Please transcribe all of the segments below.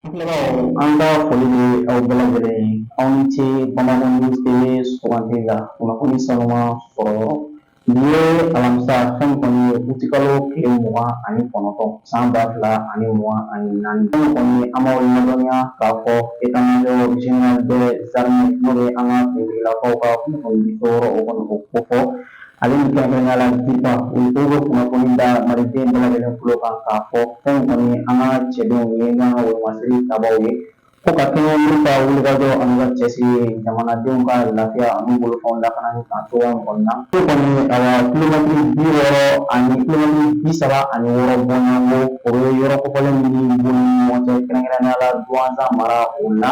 Filɛbaaw an ka foli bɛ aw bɛɛ lajɛlen ye aw ni ce Bamako News TV sugandi la kunnafoni sanuma sɔrɔ yɔrɔ nin ye alamisa fɛn kɔni ye utikalo tile mugan ani kɔnɔntɔn san ba fila ani mugan ani naani fɛn kɔni an b'aw ladɔnniya k'a fɔ état major général des armées n'o ye an ka finitigilakaw ka kunnafoni di yɔrɔ o kɔni o kofɔ ale ni kɛrɛnkɛrɛnnenya la DIRPA o bɛ kunnafoni da maliden bɛɛ lajɛlen tulo kan k'a fɔ fɛn kɔni an ka cɛdenw ye n'an ka wolomasiri tabaw ye ko ka kɛɲɛ n'u ka wulikajɔ an'u ka cɛsiri ye jamanadenw ka lafiya an'u bolofɛnw lakanani kan cogoya min kɔni na ko kɔni awa kilomɛtiri bi wɔɔrɔ ani kilomɛtiri bi saba ani wɔɔrɔ bɔɲɔgɔnko o ye yɔrɔ kofɔlen min b'u ni ɲɔgɔn cɛ kɛrɛnkɛrɛnnenya la duwanza mara o la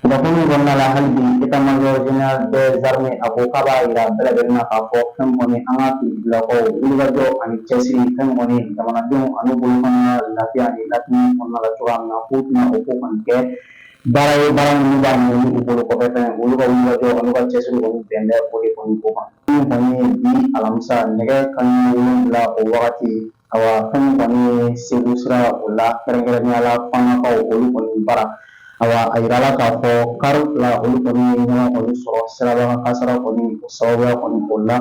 Kunnafoni kɔnɔna la hali bi état major général des armées a ko k'a b'a jira bɛɛ lajɛlen na k'a fɔ fɛn kɔni an ka finitigilakaw wulikajɔ ani cɛsiri fɛn kɔni jamanadenw an'u bolofɛnw ka lafiya ani ladonni kɔnɔna la cogoya min na k'u tɛna o ko kɔni kɛ baara ye baara minnu b'a ɲɛ u bolokɔfɛfɛn olu ka wulikajɔ an'u ka cɛsiri kɔni bɛn bɛ o de kɔni ko kan min kɔni ye bi alamisa nɛgɛ kanɲɛ wolonwula o wagati Awa fɛn kɔni ye segu sira o la kɛrɛnkɛrɛnnenya la Fanakaw olu kɔni bara awa a yirala k'a fɔ kari fila olu kɔni ye ɲɔgɔn kɔni sɔrɔ sirabakan kasara kɔni o sababuya kɔni o la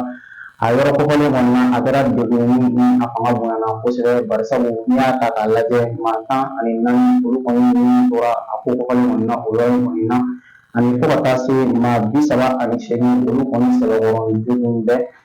a yɔrɔ kofɔlen kɔni na a kɛra degun ye ni a fanga bonyana kosɛbɛ barisabu n'i y'a ta k'a lajɛ maa tan ani naani olu kɔni ni tora a ko kofɔlen kɔni na o yɔrɔ in kɔni na ani fo ka taa se maa bi saba ani seegin olu kɔni sɛbɛkɔrɔ joginnen bɛ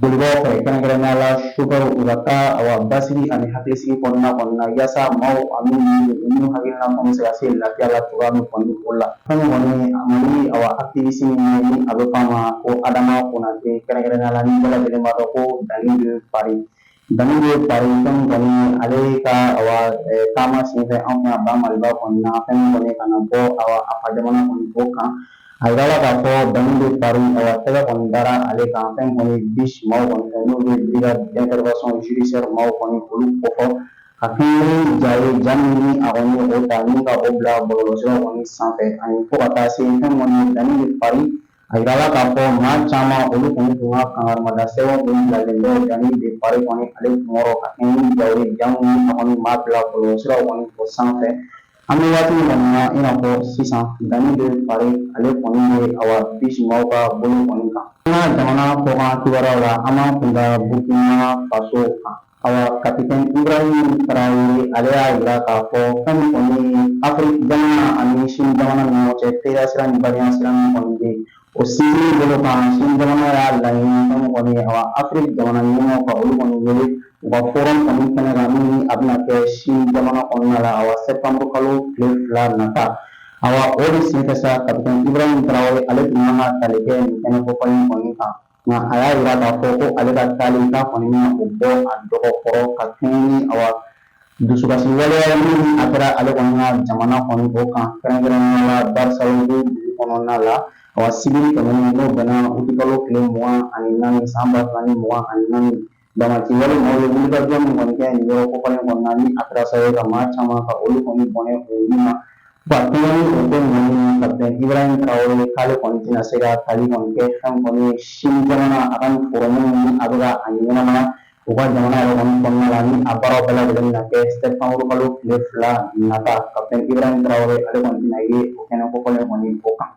Bolibaw fɛ kɛrɛnkɛrɛnnenya la sofɛriw u ka taa awa basigi ani hakilisigi kɔnɔna kɔni na yaasa maaw ani minnu hakilina kɔni bɛ se ka se lafiya la cogoya min kɔni o la fɛn kɔni Mali awa activiste min ni a bɛ fɔ a ma ko Adama Konate kɛrɛnkɛrɛnnenya la ni bɛɛ lajɛlen b'a dɔn ko Dani de Paris Dani de Paris fɛn kɔni ale ka taama senfɛ anw ka ba maliba kɔni na fɛn kɔni ka na bɔ a fa jamana kɔni ko kan a yirala k'a fɔ Dani de Paris tɛgɛ kɔni dara ale kan fɛn kɔni BIJ maaw kɔni fɛ n'o bɛ brigade d'intervention judiciaire maaw kɔni olu kofɔ ka kɛɲɛ ni ja ye ja min ni a kɔni o ta ni ka o bila bɔlɔlɔsira kɔni sanfɛ ani fo ka taa se fɛn kɔni Dani de Paris A yirala k'a fɔ maa caman olu kɔni tun ka kangarimada sɛbɛn kɔni bilalen bɛ Dani de Paris kɔni ale kunkɔrɔ ka kɛɲɛ ni ja ye ja minnu kɔni b'a bila bɔlɔlɔsiraw kɔni o sanfɛ an bɛ waati min kɔni na i n'a fɔ sisan Dani de Paris ale kɔni bɛ awa BIJ maaw ka bolo kɔni kan an ka jamana kɔkan kibaruyaw la an b'an kun da burukina faso kan Awa kapitɛn Ibrahim Traore ale y'a yira k'a fɔ fɛn min kɔni ye Afiriki jamana ani Sini jamana ni ɲɔgɔn cɛ teriya sira ni badenya sira min kɔni bɛ yen o sinsinni bolo kan Sini jamana y'a laɲini fɛn min kɔni ye awa Afiriki jamana ɲɛmɔgɔw ka olu kɔni wele u ka forum kɔni kɛnɛ kan min ni a bɛna kɛ Sini jamana kɔnɔna la awa sɛptanburu kalo tile fila nata awa o de senfɛ sa kapitɛn Ibrahim Traore ale tun kan ka taali kɛ nin kɛnɛ kofɔlen kɔni kan. Nka a y'a yira k'a fɔ ko ale ka taali k'a kɔni bɛna o bɔ a dɔgɔ kɔrɔ ka kɛɲɛ ni awa dusukasi waleya min a kɛra ale kɔni ka jamana kɔni o kan kɛrɛnkɛrɛnnenya la Barsalogho dugu kɔnɔna la awa sibiri tɛmɛnen n'o bɛnna utikalo tile mugan ani naani san ba fila ni mugan ani naani Damatɛmɛwale maaw ye wulikajɔ min kɔni kɛ nin yɔrɔ kofɔlen kɔnɔna ni a kɛra sababu ye ka maa caman ka olu kɔni bɔnɛ u ni na ka kɛɲɛ ni o ko ninnu kapitɛni Ibrahim Traore k'ale kɔni tɛna se ka taali kɔni kɛ fɛn kɔni ye sini jamana a ka nin forum ni a bɛ ka a ɲɛnamaya u ka jamana yɛrɛ kɔni kɔnɔna la ni a baaraw bɛɛ lajɛlen bɛna kɛ sɛtanburu kalo tile fila nata kapitɛni Ibrahim Traore ale kɔni tɛna ye o kɛnɛ kofɔlen kɔni o kan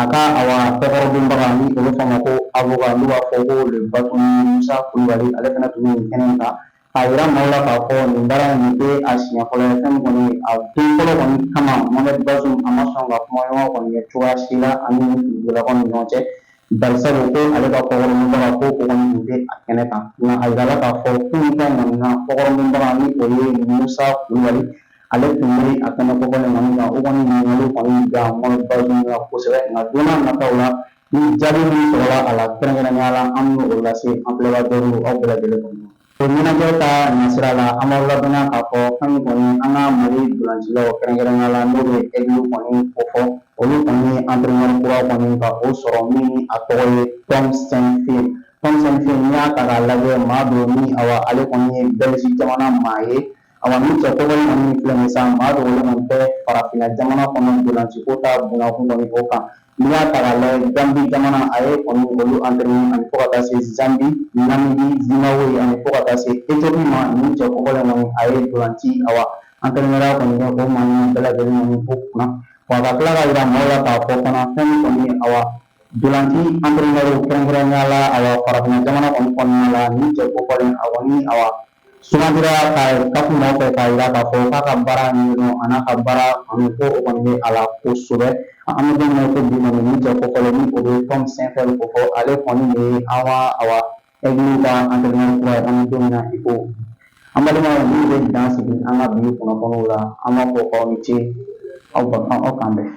A ka awa kɔkɔrɔdonbaga ni o bɛ fɔ a ma ko avocat n'u b'a fɔ ko le bâtonnier Musa Kulubali ale fana tun bɛ nin kɛnɛ in kan k'a yira maaw la k'a fɔ nin baara in nin tɛ a siɲɛ fɔlɔ ye fɛn min kɔni a don fɔlɔ kɔni kama Mohamed Bazoum a ma sɔn ka kumaɲɔgɔn kɔni kɛ cogoya si la ani dugutigilakaw ni ɲɔgɔn cɛ barisabu ko ale ka kɔkɔrɔdonbaga ko o kɔni tun tɛ a kɛnɛ kan nka a yirala k'a fɔ kunun fɛn kɔni a ka kɔkɔrɔdonbaga ni o ye Musa Kulubali ale tun bɛ a kɛnɛ kofɔlen kɔni kan o kɔni ɲininkali kɔni kɛ Mohamed Bazoum la kosɛbɛ nka don n'a nataw la ni jaabi min sɔrɔla a la kɛrɛnkɛrɛnnenya la an bɛ o lase an filɛbagaw aw bɛɛ lajɛlen kɔni o ɲɛnajɛ ka nasira la an b'aw ladɔnniya k'a fɔ fɛn min kɔni an ka Mali ntolancilaw kɛrɛnkɛrɛnnenya la n'o bɛ ɛgili kɔni kofɔ olu kɔni ye antrenɛri kura kɔni ka o sɔrɔ min ni a tɔgɔ ye Tom Saintfiet Tom Saintfiet n'i y'a ta k'a lajɛ maa don min awa ale kɔni ye Bɛliziki jamana maa ye Awa nin cɛ kofɔlen kɔni filɛ nin ye sa maa dogolen kɔni tɛ farafinna jamana kɔnɔ ntolanci ko ta bunakun kɔni o kan n'i y'a ta k'a lajɛ Gambie jamana a ye kɔni olu entraîner ani fo ka taa se Zambie Namibie Zimbabwe ani fo ka taa se Ethiopie ma nin cɛ kofɔlen kɔni a ye ntolanci awa entraîneur kɔni kɛ o maa ninnu bɛɛ lajɛlen kɔni o kunna wa ka tila k'a yira maaw la k'a fɔ fana fɛn min kɔni ye awa ntolanci entraîneur kɛrɛnkɛrɛnnenya la awa farafinna jamana kɔni kɔnɔna la nin cɛ kofɔlen a kɔni awa Sugandira CAF nɔfɛ k'a yira k'a fɔ k'a ka baara ɲɛdɔn a n'a ka baara kanu ko o kɔni bɛ a la kosɛbɛ an bɛ don min na i ko bi kɔni nin cɛ kofɔlen ni o bɛ Tom Saintfiet kofɔ ale kɔni de ye an ka awa ɛgili ka antɛrɛnɛri kura ye an bɛ don min na i ko an balimaw nin bɛ dan sigi an ka bi kunnafoniw la an b'a fɔ k'aw ni ce aw k'an bɛn